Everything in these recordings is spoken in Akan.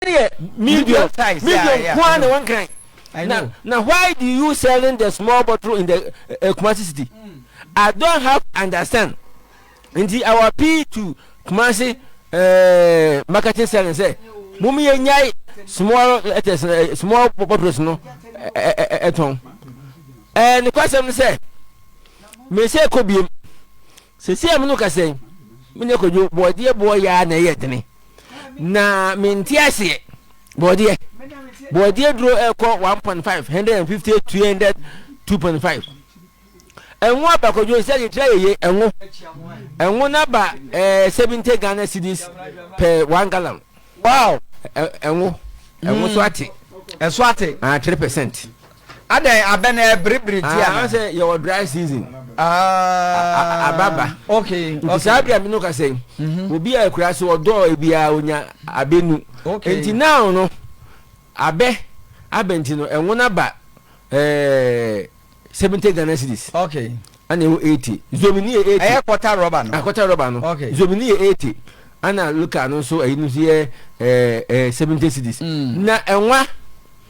deɛ medium medium nko ara na wɔnkran na na why do you selling the small bottle in the uh, Kumasi city mm. I don't have understand nti I will appeal to Kumasi uh, marketing selling sɛ mo mi yɛ nyai small letters uh, small bottles no ɛtɔn ɛɛ ne kwasɛm no sɛ mɛ sɛ kɔ biem. Seesei a me ne wo kasa yi, me nua Kwadwo, bɔɔdeɛ boɔ yɛ ara na ɛyɛ dene, na mente aseɛ. Bɔɔdeɛ, bɔɔdeɛ duro ɛkɔ 1.5, 150, 200, 2.5. Ɛnwo aba Kwadwo, nsɛ kyekyerɛ yeye, ɛnwo. Ɛnwo na ba eh, 70 Ghana cedis per one gallon. Wow! Ɛnwo, ɛnwo so ate. Ɛso ate. Ah, 3%. Adɛn abɛ na ɛbribri tia ah, na. Ɔsɛ yɛwɔ dry season. Ah. Ababa. Okay. Nti saa bia mi no ka sɛ. Mhm. Obi a ekura so ɔdɔ ebi a onya abɛ nu. Okay. Nti now no abɛ abɛ nti no ɛnwo na ba ɛɛ eh, seventy Ghana cedis. Okay. Ɛna ɛwɔ eighty. Zomini yɛ eighty. Ɛyɛ kɔta rɔba no. Akɔta rɔba no. Okay. Zomini yɛ eighty. Ɛna local no nso ɛyi no nso yɛ ɛɛ eh, ɛɛ eh, seventy cedis. Mm. Na ɛnwa.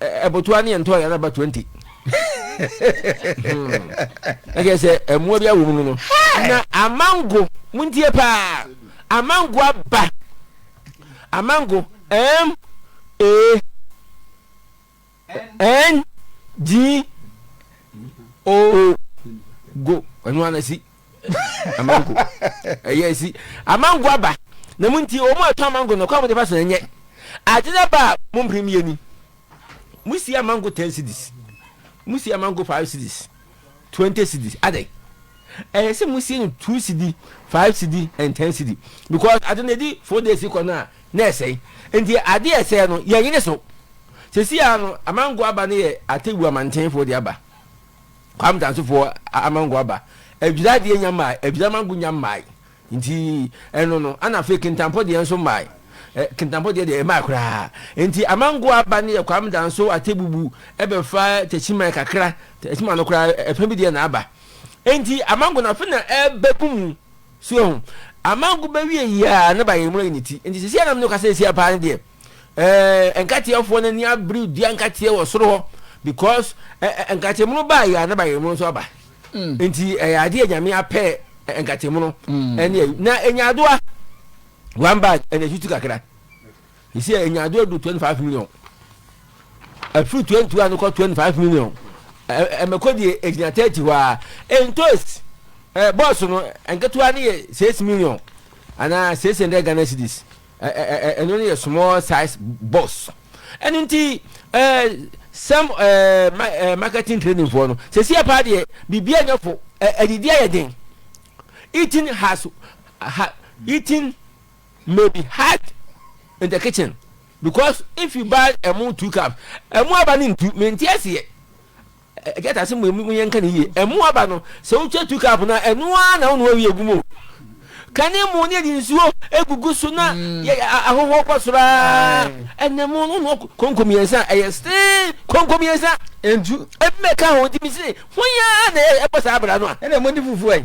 Ɛbotoa ne ɛntɔeɛ no aba 20. Na kyerɛ sɛ mmoa bi awɔ mu no no. Na amango, montie paa, amango aba. Amango, M, A, N, G, O, go. Ɛno ara na si. amango ɛyɛ si amango aba na mu nti wɔn a ɛtɔ amango no kwan wɔn de fa so na nyɛ ade na ba a wɔn mpere mmienu ni wɔn si amango ten cedis wɔn si amango five cedis twenty cedis adɛ ɛyɛ sɛ wɔn si no two cedi five cedi and ten cedi because ade na edi four days kɔ no a na ɛsɛn nti ade ɛsɛn no yɛn nyine so sisi ano amango aba no yɛ atewu amantenfo de aba. Kwame Tansefoɔ amango aba Adwira deɛ nya mmae Adwira mango nya mmae Nti ɛno no Ana afei Kintampɔ deɛ nso mmae eh, Kintampɔ deɛ deɛ ɛmmae koraa Nti amango aba no yɛ Kwame Danso Atebubu ɛbɛfa Takyiman kakra Takyiman no koraa ɛfã bi deɛ na aba Nti amango no afei na ɛbɛgu mu So ehu Amango bɛwie yiaa na bayerɛ mu ayi ne ti Nti seesei a na me ne wo kasa yi asia paa no deɛ Ɛɛ nkateɛfoɔ no ani abere dua nkateɛ wɔ soro hɔ because ɛɛ nkateɛmono baa yɛ a na bayerɛmono nso aba mm. nti ɛyɛ adeɛ a nyame apɛ nkateɛmono mm. ɛne ayi na enyadoa one bag ɛna etutu kakra esi enyadoa du twenty five million ɛfiri twenty one kɔ twenty five million ɛmɛkɔ deɛ egyina thirty hɔ a entos ɛɛ bɔs no nketewa no yɛ six million anaa six hundred ghana cedis. Ɛno no yɛ small size boss. Ɛno nti eh, sɛm eh, eh, marketing training foɔ no, sɛ sie paa deɛ, biribiara nyɛ fo, adidi ayɛ den. Eating has, ha, eating may be hard in the kitchen because if you buy ɛmo two cups, ɛmo aba no ntu, mente aseɛ. Get ase mmom mu yɛnka no yie. Ɛmo aba no, sɛ wotwa two cup no a, ɛno ara na wonoa wie gu mu. Ka ne mo ne yɛde nsuo gugu so na ahohoɔ kɔ soro ara. Ɛnɛ mo no noa konko mmiɛnsa a, ɛyɛ steen konko mmiɛnsa. Ntu. Ebi mɛka ho nti mese ho yɛ ara na ɛbɔ saa abira no a. Ɛnɛ mo de fufuo ɛ.